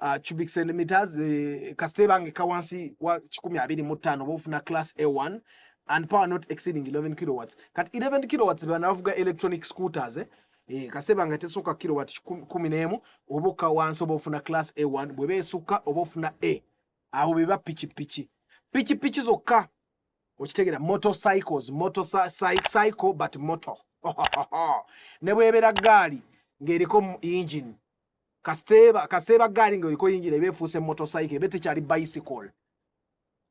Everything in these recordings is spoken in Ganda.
uh, cubic centimeters eh, kasita ebange kawansi wa kikumi abiri mu ttaano oba ofuna class a1 and power not exceeding 11 kilowatts kati 11 kilowatts bana bavuga electronic scooters eh? Eh, kasita ebange tesooka kilowatt kumi n'emu oba okka wansi oba ofuna class a1 bwe beesukka oba ofuna a awo beba pikipiki pikipiki zokka okitegera motorcycles motorcycle but motor ne bwebera gaali ng'eriko engine kaseeba kaseeba gaali nga oliko yingira eba efuuse motocycle ebe tekyali bicycle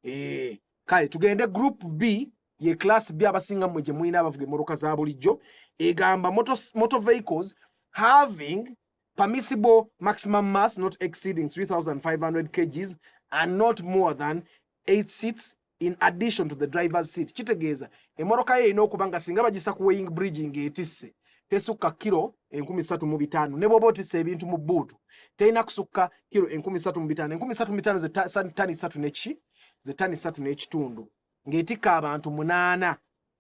ee eh, kale tugende group b ye class b abasinga mmwe gye mulina abavuga emmotoka za bulijjo egamba moto, moto vehicles having permissible maximum mass not exceeding 3500 kgs and not more than 8 seats in addition to the driver's seat kitegeeza emmotoka yo erina okuba nga singa bagisa ku weighing bridge ng'etisse tesukka kiro enkumi satu mu bitaano ne bwoba otisa ebintu mu bbuutu terina kusukka kiro enkumi satu mu bitaano enkumi satu mu bitaano zetani satu neki zetani satu n'ekitundu ng'etikka abantu munaana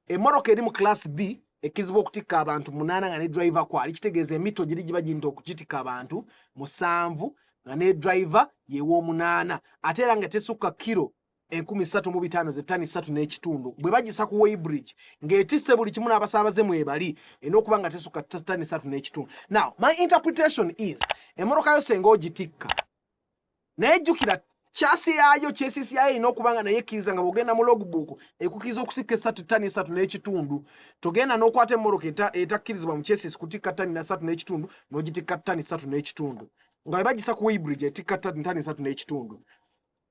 emmotoka eri mu class b ekkirizibwa okutikka abantu munaana nga ne driver kwali kitegeeza emito giri giba girinta okugitikka abantu musanvu nga ne driver yew'omunaana ate era nga tesukka kiro enkumi ssatu mu bitaano ze ttani ssatu n'ekitundu bwe bagisa ku weybridge ng'etisse buli kimu n'abasaabaze mwebali erina okuba nga tesukka ttani ssatu n'ekitundu now my interpretation is emmotoka yo senga ogitikka naye jjukira kyasi yaayo kyesisi yaayo erina okuba nga naye ekkiriza nga bwogenda mu logbook ekukiriza okusikka esatu ttani esatu n'ekitundu togenda n'okwata emmoroka etakkirizibwa mu kyesisi kutikka ttani nasatu n'ekitundu n'ogitikka ttani satu n'ekitundu nga bebagisa ku weybridge etikka ttani satu n'ekitundu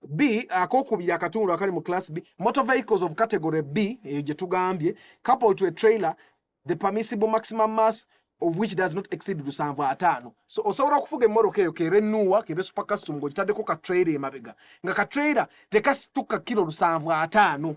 B akokubiri akatundu akali mu class B motor vehicles of category B eyo gye tugambye couple to a trailer the permissible maximum mass of which does not exceed lusanvu ataano so osobola okufuga emmoroka eyo kebe nuwa kebe super custom ng'ogitaddeko ka trailer emabega nga ka trailer tekasituka kilo lusanvu ataano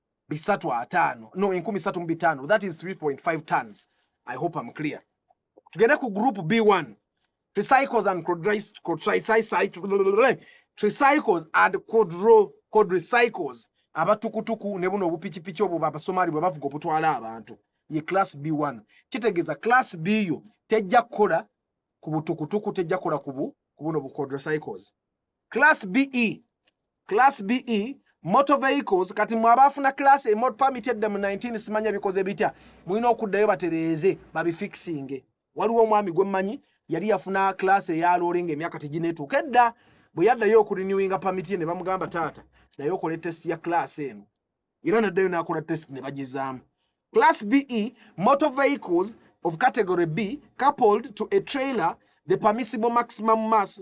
bisatu ataano no enkumi satu mu bitaano that is 3.5 tons i hope am clear tugende ku group b1 tricycles and tricycles and quadro quadricycles abatukutuku ne buno obupikipiki obwo babasomali bwe bavuga obutwala abantu ye class b1 kitegeeza class b yo tejja kukola ku butukutuku tejja kukola ku buno bu quadricycles class be class be motor vehicles kati mwe abaafuna class e mot permit edda mu 19 simanya bikoze bitya mulina okuddayo batereeze babifikisinge waliwo omwami gwe mmanyi yali yafuna class eya loole ng'emyaka tegineetuuka edda bwe yaddayo okurinewinga permit ye ne bamugamba taata naye okola etest ya class eno era naddayo n'akola test ne bagizaamu class be motor vehicles of category b coupled to a trailer the permissible maximum mass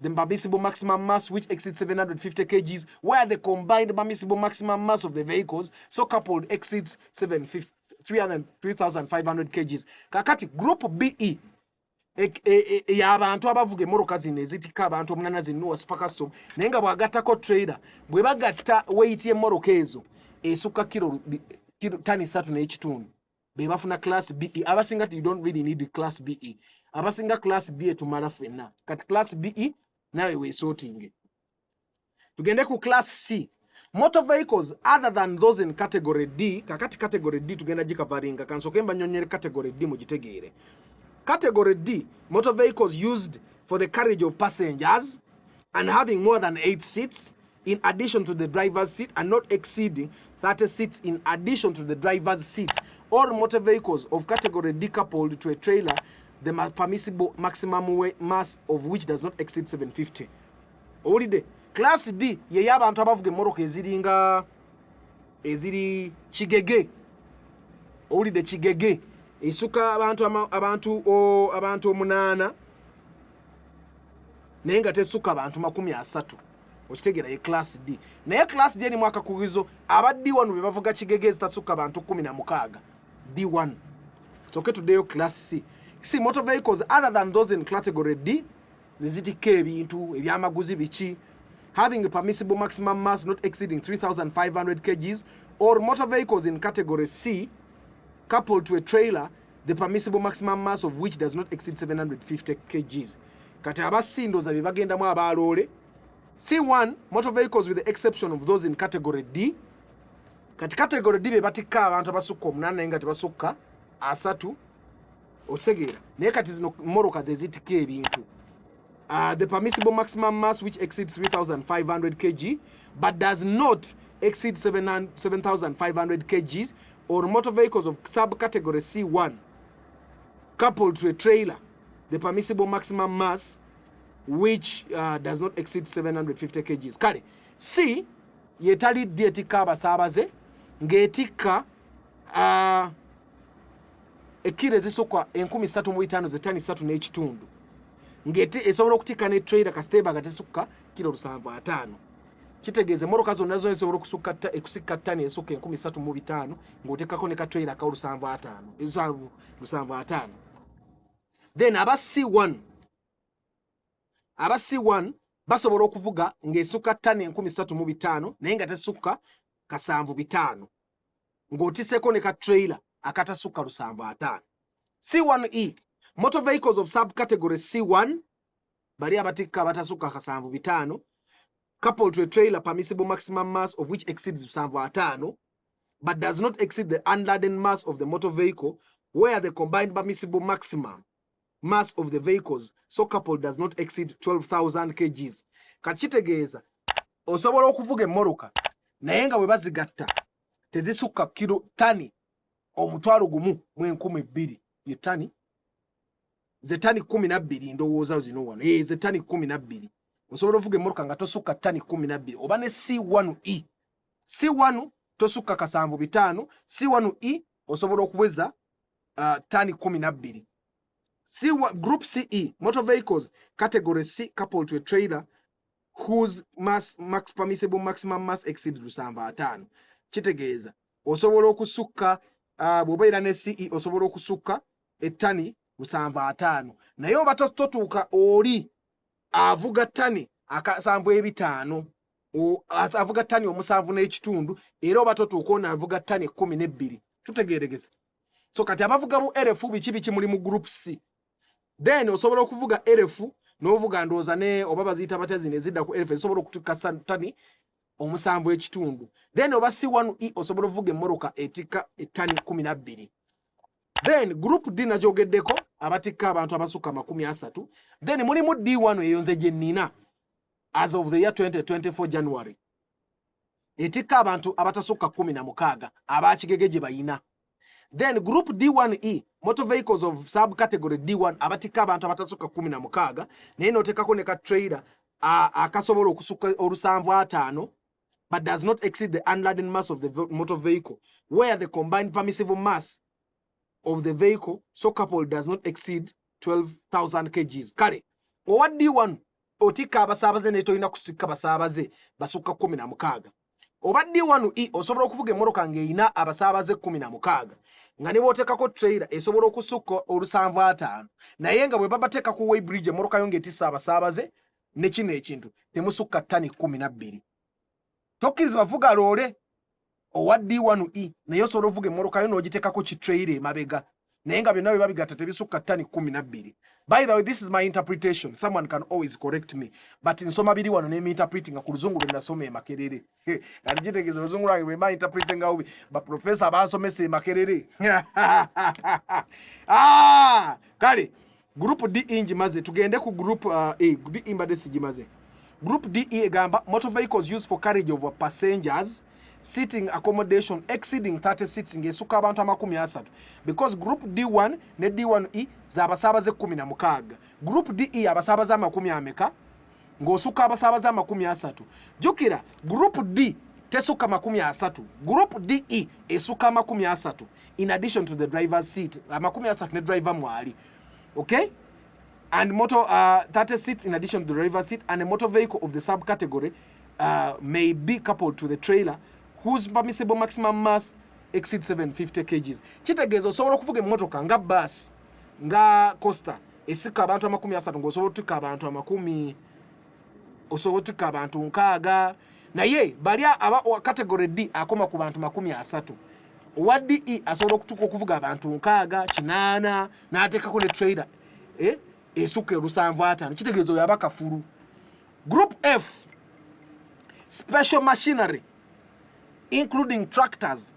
the Mbamisible maximum mass, which exceeds 750 kgs, where the combined Mbamisible maximum mass of the vehicles, so coupled, exceeds 3,500 kgs. Kakati, group BE, ya abantu abavuga emoroka zino ezitika abantu omunana zinuwa super custom naye nga bwagattako trailer bwe bagatta weyiti emoroka ezo esukka kiro tani satu n'ekitundu bebafuna class be abasinga ti don't really need class be abasinga class be tumala fenna kati class be nawe wesotinge tugende ku class c motor vehicles other than those in category d kakati category d tugenda gikavaringa kansoke mbanyonyere category d mugitegeere category d motor vehicles used for the carriage of passengers and having more than 8 seats in addition to the driver's seat and not exceeding 30 seats in addition to the driver's seat or motor vehicles of category D coupled to a trailer the permissible maximum weight mass of which does not exceed 750 owulidde class D yeyo abantu abavuga emmoroka eziringa eziri kigege owulidde kigege esuka abantu abantu abantu omunaana naye nga tesuka bantu makumi asatu okitegera ye class d naye class d erimu akakugizo aba d1 be bavuga kigege ezitasukka bantu kumi na mukaaga d1 toke tuddeyo class c si motor vehicles other than those in category d zezitikka ebintu ebyamaguzi biki having a permissible maximum mass not exceeding 3500 kgs or motor vehicles in category c coupled to a trailer the permissible maximum mass of which does not exceed 750 kgs kati abasindoza bye bagendamu abaaloole c1 motor vehicles with the exception of those in category d kati category d be batikka abantu abasukka omunana naye nga tebasukka asatu okitegeera naye kati zino moroka zezitikka ebintu Uh, the permissible maximum mass which exceeds 3500 kg but does not exceed 7500 kgs or motor vehicles of subcategory C1 coupled to a trailer the permissible maximum mass which uh, does not exceed 750 kgs kale si yetalidde etikka abasaabaze ng'etikka uh, ekkiro ezisukka enkumi ssatu mu bitaano ze tani ssatu n'ekitundu ng'ete esobola okutikka ne trailer kasita eba nga tesukka kiro lusanvu ataano kitegeeza emmotoka zonna zona esobola okusukka ekusikka ttani esukka enkumi ssatu mu bitaano ng'oteekako ne ka trailer ka olusanvu ataano lusanvu ataano then aba c1 aba c1 basobola okuvuga ng'esukka ttani enkumi ssatu mu bitaano naye nga tesukka kasanvu bitaano ng'otiseko ne ka trailer akatasukka lusanvu ataano c1e motor vehicles of subcategory c1 bali abatikka abatasukka kasanvu bitaano couple to a trailer permissible maximum mass of which exceeds lusanvu ataano but does not exceed the unladen mass of the motor vehicle where the combined permissible maximum mass of the vehicles so couple does not exceed 12000 kgs kati kitegeeza osobola okuvuga emmoroka naye nga bwe bazigatta tezisukka kiro tani omutwalo gumu mu enkumi bbiri ye tani ze tani kumi nabbiri ndowooza zino wano e ze tani kumi nabbiri osobola ovuga emmoroka nga tosukka tani kumi nabbiri oba ne c1 e c1 tosukka kasanvu bitaano c1 e osobola okuweza uh, tani kumi nabbiri si group ce motor vehicles category c couple to a trailer whose mass, max permissible maximum mass exceed lusanvu ataano kitegeeza osobola okusukka uh, bwobeera ne ce osobola okusukka ettani lusanvu ataano naye oba totuuka oli avuga tani akasanvu ebitaano avuga tani omusanvu n'ekitundu era oba totuuka ono avuga tani ekkumi n'ebbiri tutegeeregeze so kati abavuga mu erefu biki biki muli mu group c then osobola okuvuga erefu n'ovuga ndooza ne oba baziyita batya zino ezidda ku erefu ezisobola okutuuka tani omusanvu ekitundu then oba si one e osobola ovuga emmoroka etikka ettani kumi nabbiri then group d nagyogeddeko abatikka abantu abasukka amakumi asatu then mulimu d wano eyo nze gye nnina as of the year 2024 January etikka abantu abatasukka kumi na mukaaga abakigege gye bayina then group d1e motor vehicles of sub category d1 abatikka abantu abatasukka kumi na mukaaga naye notekako ne ka trailer akasobola okusukka olusanvu ataano but does not exceed the unladen mass of the motor vehicle where the combined permissible mass of the vehicle so couple does not exceed 12000 kgs kale owa d1 otikka abasaabaze naye tolina kusikka basaabaze basukka kumi na mukaaga oba d1 e osobola okuvuga emmotoka ng'erina abasaabaze kumi na mukaaga nga ne booteekako trailer esobola okusukka olusanvu ataano naye nga bwe babateeka ku weybridge emmotoka yo ng'etisa abasaabaze ne kino ekintu temusukka ttani kumi na bbiri tokkiriza bavuga loole owa d1 e naye osobola ovuga emmolokayo n'ogitekako kitraire emabega naye nga byonna bye babigatta tebisukka ttani kumi nabbiri by the way this is my interpretation someone can always correct me but nsoma biri wano nemiinterpretinga ku luzungu lwe nasoma emakerere kati kitegeeza oluzungu lwange lwe mainterprete nga ubi baprofesa bansomesa emakerere ah! kale Group D inji e maze tugende ku group uh, A e, D e mbade siji maze. Group D e gamba motor vehicles used for carriage of passengers sitting accommodation exceeding 30 seats nge suka abantu amakumi asatu because group D1 ne D1E za basabaze 16. Group DE abasabaze amakumi ameka ng'osukka abasaabaze amakumi asatu jjukira group d tesukka makumi asatu group de esukka amakumi asatu in addition to the driver seat amakumi asatu ne driver mwali okay and motor uh, 30 seats in addition to the driver seat and a motor vehicle of the subcategory uh, may be coupled to the trailer whose permissible maximum mass exceed 750 kgs kitegeeza osobola okuvuga emmotoka nga bus nga costa esika abantu amakumi asatu ngaosobola otuka abantu amakumi osobola otuka abantu nkaaga naye bali category d akoma ku bantu makumi asatu owa de asobola okutuka okuvuga abantu nkaaga kinaana natekako ne trader eh? esuka olusanvu atano kitegeeza oyo abakafulu group f special machinery including tractors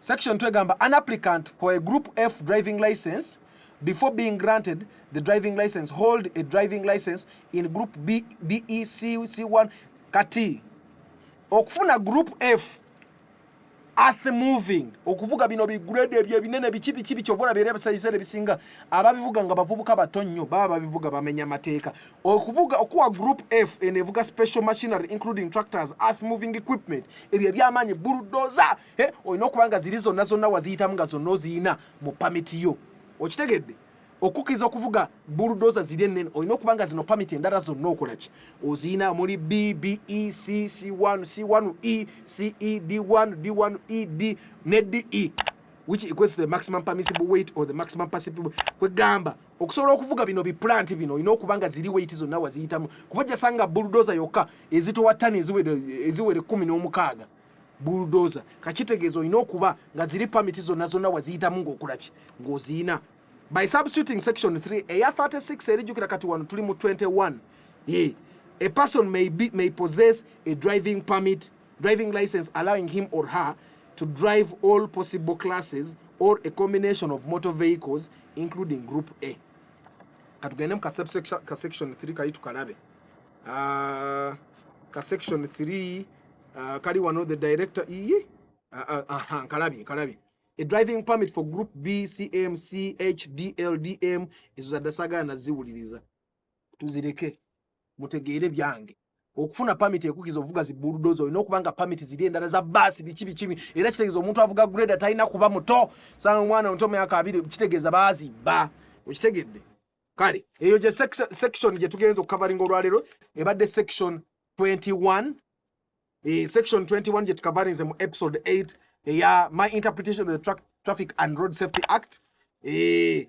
section twegamba an applicant for a group f driving license before being granted the driving license hold a driving license in group b b e c c1 kati okufuna group f earth moving okuvuga bino bigrade ebyo ebinene biki biki biki obona byerebesayisere bisinga ababivuga nga bavubuka bato nnyo baba babivuga bamenya mateeka okuvuga okuwa group f eno evuga special machinery including tractors earth moving equipment ebyo ebyamaanyi buludoza eh, olina okuba nga ziri zonna zonna waziyitamu nga zonna oziyina mu pamiti yo okitegedde okukkiriza okuvuga buludoza ziri ennene olina okuba nga zino pamiti endala zonna okolaki oziyina muli bbecc1 c1 e ced1 d1 ed ne de which equates to the maximum permissible weight or the maximum permissible kwegamba Okusobola okuvuga bino bi plant bino olina okuba nga ziri weight zonna waziyitamu kuba ojja sanga bulldozer yokka ezitowa ttani eziwere eziwere kkumi n'omukaaga bulldozer kakitegeeza olina okuba nga ziri pamiti zonna zonna waziyitamu ng'okola ki ng'oziyina by substituting section 3 eya 36 erijjukira kati wano tuli mu 21 ye a person may, be, may possess a driving permit driving license allowing him or her to drive all possible classes or a combination of motor vehicles including group a katugende mu ka section 3 kali tukalabe uh, ka section 3 uh, kali wano the director iye uh, uh, uh, nkalabye nkalabye a driving permit for group b cm c h d l d m ezo zadasagana ziwuliriza tuzireke mutegeere byange okufuna pamiti ekukiza ovuga zi bulldozer olina okuba nga pamiti ziri endala za baasi biki bikimi era kitegeeza omuntu avuga grade talina kuba muto sanga omwana omuto myaka abiri kitegeeza baazibba okitegedde kale eyo gye section gye tugenza okukavaringa olwaleero ebadde section 21 e, section 21 gye tukavarinze mu episode 8 eya my interpretation of the Tra traffic and road safety act e,